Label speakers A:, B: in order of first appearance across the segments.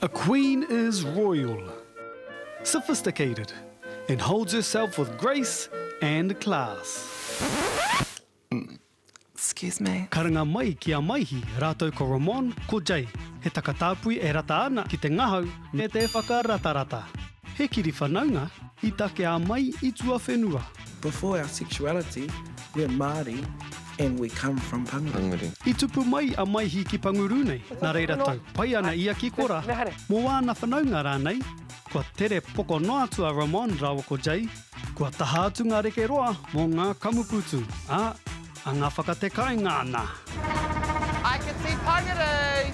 A: A queen is royal, sophisticated and holds herself with grace and class. Excuse
B: me. Karanga mai ki a
A: Maihi rātou ko Ramon, ko Jay. He takatāpui e rata ana ki te ngahau me te whakaratarata. He kiri whanaunga i takea mai i tuawhenua. Before our
C: sexuality, we're Māori and we come from Panguru. I tupu mai a
A: Maihi ki Panguru nei, nā reira tau pai ana ia ki Kora mō āna whanaunga rānei, kua tere poko noa atu a Ramon rāua ko Jay, kua taha atu ngā reke roa mō ngā kamupūtu, ā, Anga whakatekainga ana. I can
B: see Pangaroo.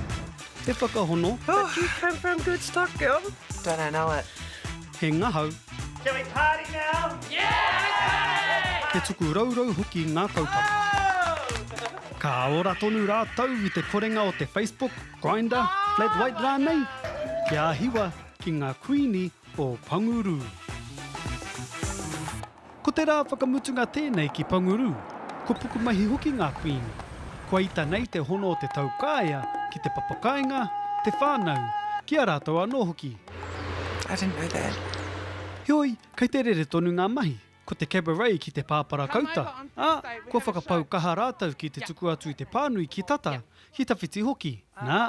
B: He
A: whakahono. But you came from
C: good stock, girl. Don't I know it.
B: He ngahau.
A: Shall we party
D: now? Yeah! He tuku rourou
A: hoki ngā kaupapa. Ka ora tonu rātou i te korenga o te Facebook, Grindr, Flat White rānei, kia hiwa ki ngā Kuini o Pangurū. Ko te rā whakamutunga tēnei ki Panguru, ko Pukumahi hoki ngā kuini. Kua ita nei te hono o te taukaea ki te papakāinga, te whānau, ki a rātou anō hoki. I didn't
B: know that. Heoi,
A: kei te rere tonu ngā mahi, ko te cabaret ki te pāparakauta, ā, kua whakapau kaha rātou ki te tuku atu i te pānui ki tata, ki tawhiti hoki, nā,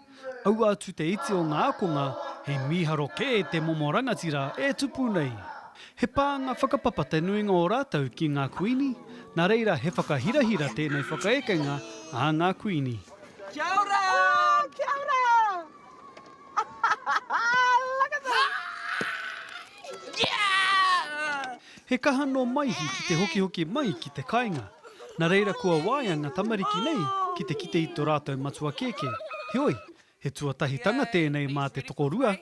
A: Aua atu te iti o ngā ākonga, he mīharo kē te momo rangatira e tupu nei. He pānga whakapapa te nuinga o rātou ki ngā Kuini, nā reira he whakahirahira tēnei whakaekenga a ngā Kuini. Kia ora!
B: Kia ora! Look at them! He kaha nō
A: Maihi ki te hokihoki mai ki te kainga. Na reira kua waea nga tamariki nei ki te kite i to ratou matua kēkē. Heoi, he tuatahitanga tēnei mā te tokorua.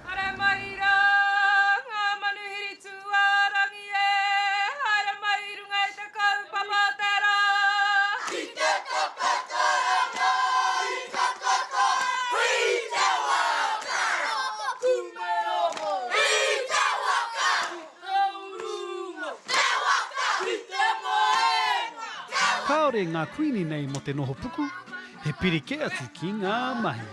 E: Haere mai rā ngā manuhiri tūārangi e, haere mai i runga i te kaupapa o te rā. I te takoto ranga, i takoto, i te waka. Taku meroho. I te waka. I te urunga. Te waka. I te moenga. Te waka. Kāore
A: ngā kuini nei mō te nohopuku, he piri kē atu ki ngā mahi.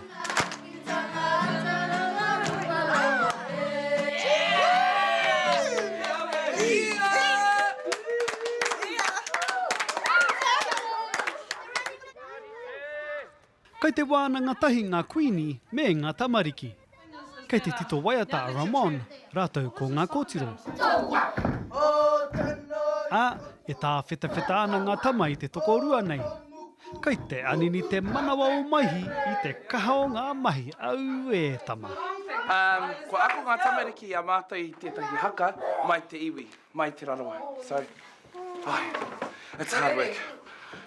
A: Kei te wānanga tahi ngā kuini me ngā tamariki. Kei te tito waiata a Ramon rātou ko ngā kōtiro. Ā, e tāwhetawheta ana ngā tama i te tokorua nei. Kei te anini te manawa o Maihi i te kaha o ngā mahi, auē tama. Umm, kua
C: ako ngā tamariki i a mātou i tētahi haka mai te iwi, mai Te Rarawa. So, ai, it's hard work.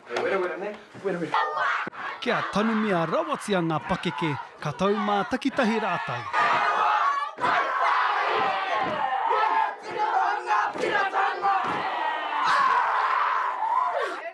C: He werawera nei, werawera. Kia
A: tanumia rawatia ngā pakeke, ka tau mā takitahi rātou.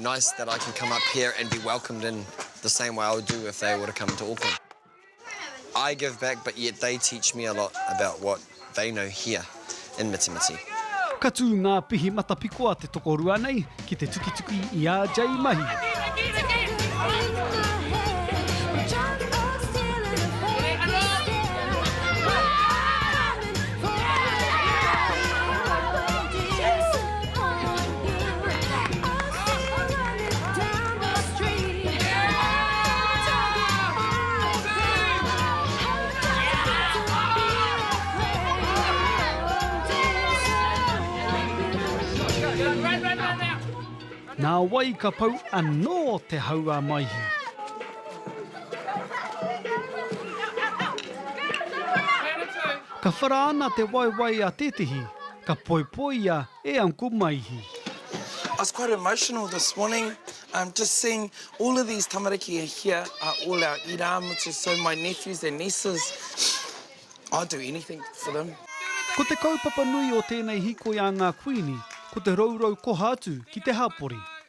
F: Nice that I can come up here and be welcomed in the same way I would do if they were to come to Auckland. I give back but yet they teach me a lot about what they know here in Mitimiti. Ka tū ngā
A: pihi matapiko a te tokorua nei ki te tukituki i a Jay Mahi. Nā wai ka pau anō te hau a Maihi? Ka whara ana te waewae a tētehi, ka poipoia e Uncle Maihi. I was
C: quite emotional this morning um just seeing all of these tamariki are here are all our irāmutu so my nephews and nieces I'd do anything for them. Ko te kaupapa
A: nui o tēnei hīkoi a ngā Kuini ko te rourou koha atu ki te hapori.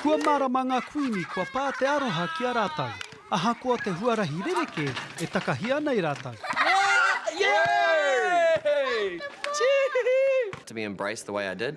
A: Kua mārama ngā Kuini kua pā te aroha ki a rātou, ahakoa te huarahi rerekē e takahi ana e rātou. Yay! Yay!
F: Cheeky! To be embraced the way I did.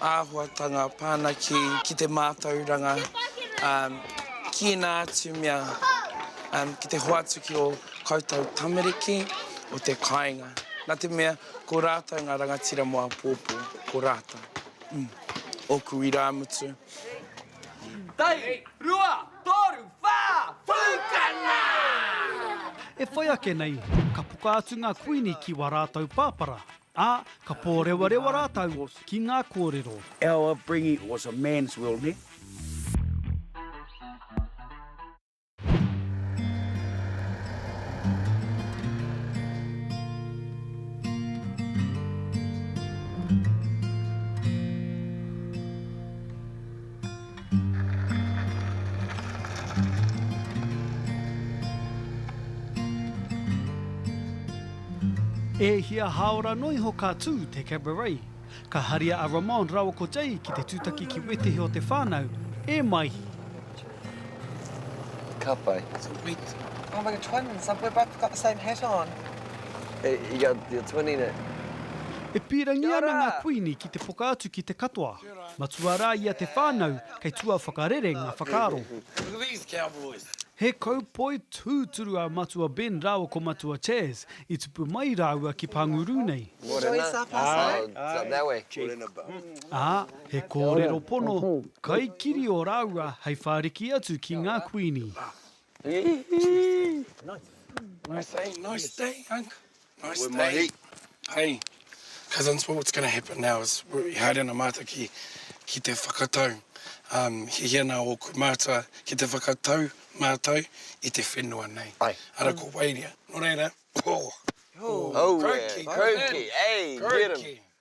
C: āhuatanga whanake ki te mātauranga, ki ēnā atu mea, ki te hoatu ki ō koutou tamariki o te kāinga. Nā te mea, ko rātou ngā rangatira mō apōpō, ko rātou. Ōku irāmutu.
D: Tahi, rua, tōru, whā! Pūkana!
A: E whai ake nei, ka puka atu ngā kuini ki wā rātou pāpara, Ā, ka pōrewarewa rātou ki ngā kōrero. Our upbringing
G: was a man's world, nē?
A: E hia hāora noa iho ka tū te Cabaret. Ka haria a Ramon rāua ko Jay ki te tūtaki ki wētehi o te whānau, e Maihi.
F: Ka pai. It's a wet. Oh
C: my god, twins.
B: We've both got the same hat on. Hey,
F: you're twinning it. E
A: pīrangi ana ngā kuini ki te poka atu ki te katoa. Matua rā ia te whānau kei tua whakarere ngā whakaaro.
C: He kaupoi
A: tūturu a Matua Ben rāua ko Matua Chas i tupu mai rāua ki Panguru nei.
F: Ā,
A: he kōrero pono, kaikiri o rāua hei whāriki atu ki ngā Kuini.
C: Nice day. Hey, cousins, what's going to happen now is we haere ana mātou ki, ki te whakatau. Um, he hia nā ōku mātua ki te whakatau mātou i te whenua nei. Ai. Ara ko Wairia. Nō reira, oh, oh, oh
F: crikey,
C: crikey, crikey,
F: hey, crikey.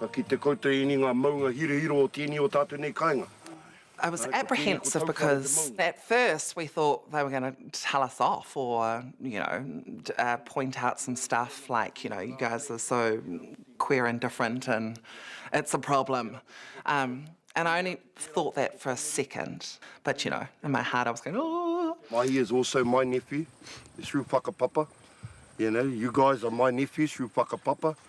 H: Ka kite koutou ēnei ngā maunga hirohiro o tēnei o tātou nei kāinga? I was
B: apprehensive because at first we thought they were going to tell us off or you know point out some stuff like you know you guys are so queer and different and it's a problem um and I only thought that for a second but you know in my heart I was going ooh. Mahi is also my
H: nephew through whakapapa, you know you guys are my nephews through whakapapa.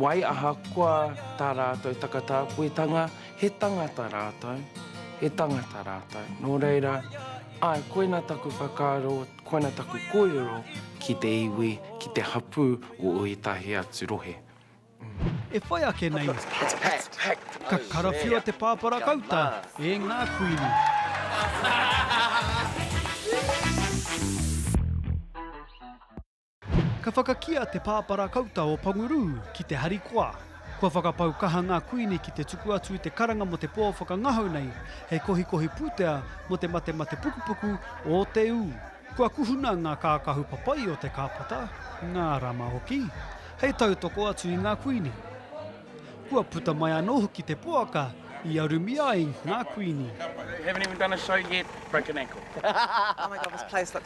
I: Wai ahakoa tā rātou takatāpuetanga, he tangata rātou, he tangata rātou. Nō reira, āe, koina taku whakaaro, koina taku kōrero ki te iwi, ki te hapū o ētahi atu rohe. E
A: whai ake nei, ka karawhiua te pāpara kauta e ngā kuini. Ka whakakīa te pāpara kauta o Pangurū ki te harikoa. Kua whakapau kaha ngā kuini ki te tuku atu i te karanga mō te pō whakangahau nei hei kohikohi pūtea mō te matemate pukupuku o te ū. Kua kuhuna ngā kākahu papai o te kāpata, ngā rama hoki, hei tautoko atu i ngā kuini. Kua puta mai anō hoki te poaka i arumi ai ngā kuini.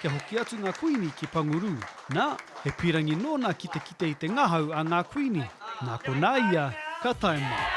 A: kia hoki atu ngā kuini ki Panguru. Nā, he pīrangi nōna ki te kite i te ngahau a ngā kuini. Nā konā ia ka tae mai.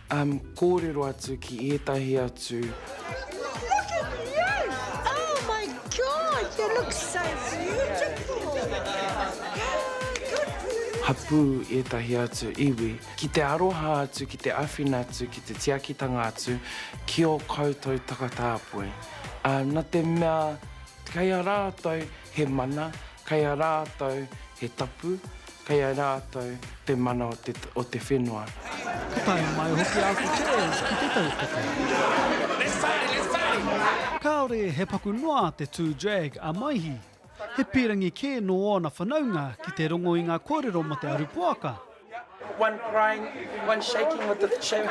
I: Kōrero atu ki ētahi atu. Look at you!
J: Oh my God! You look so beautiful!
I: Hapū ētahi atu iwi ki te aroha atu, ki te awhina atu, ki te tiakitanga atu ki ō koutou takatāpui. Na te mea Kei a rātou he mana, kei a rātou he tapu, kei a rātou te mana o te o te whenua. Ka tae
A: mai hoki a Cortez ki te tautoko. Kāore he paku noa te tū drag a Maihi. He pīrangi kē nō ōna whanaunga ki te rongo i ngā kōrero mō te aru poaka. One
I: crying, one shaking with the sharing.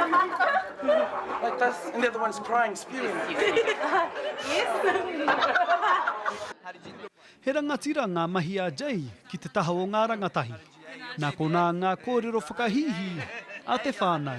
I: Like this, and the other one's crying, spewing.
A: He rangatira ngā mahi a Jay ki te taha o ngā rangatahi. Nā konā ngā kōrero whakahīhī a te whānau.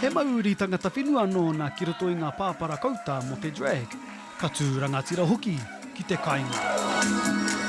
A: He mauuri tangata whenua nōna ki roto i ngā pāpara kouta mō te drag, ka tū rangatira hoki ki te kainga.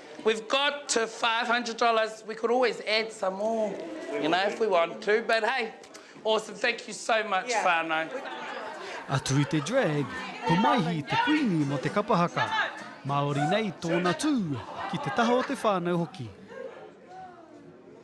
I: We've got to five hundred dollars, we could always add some more, you know, if we want to, but hey, awesome, thank you so much whanau. Atu
A: i te drag, ko Maihi te kuini mo te kapa haka. Maori nei tona tu, ki te taha o te whanau hoki.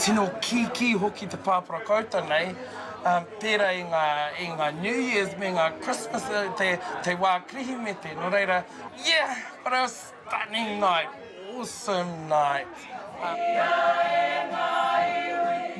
I: Tino kīkī hoki te pāpara koutou nei, pērā i ngā, i ngā New Years me ngā Christmas, te, te wā Kirihimete, nō reira, yeah! What a stunning night! Awesome night!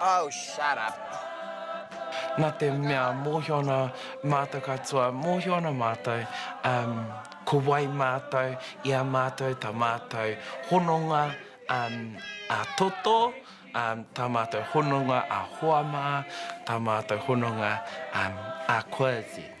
C: Oh
B: shut up.
I: Na te mea mohio ana matou katoa, mohio ana matou um ko wai matou i a matou ta matou hononga um a toto, um ta matou hononga a hoa ma, ta matou hononga um a Quasi.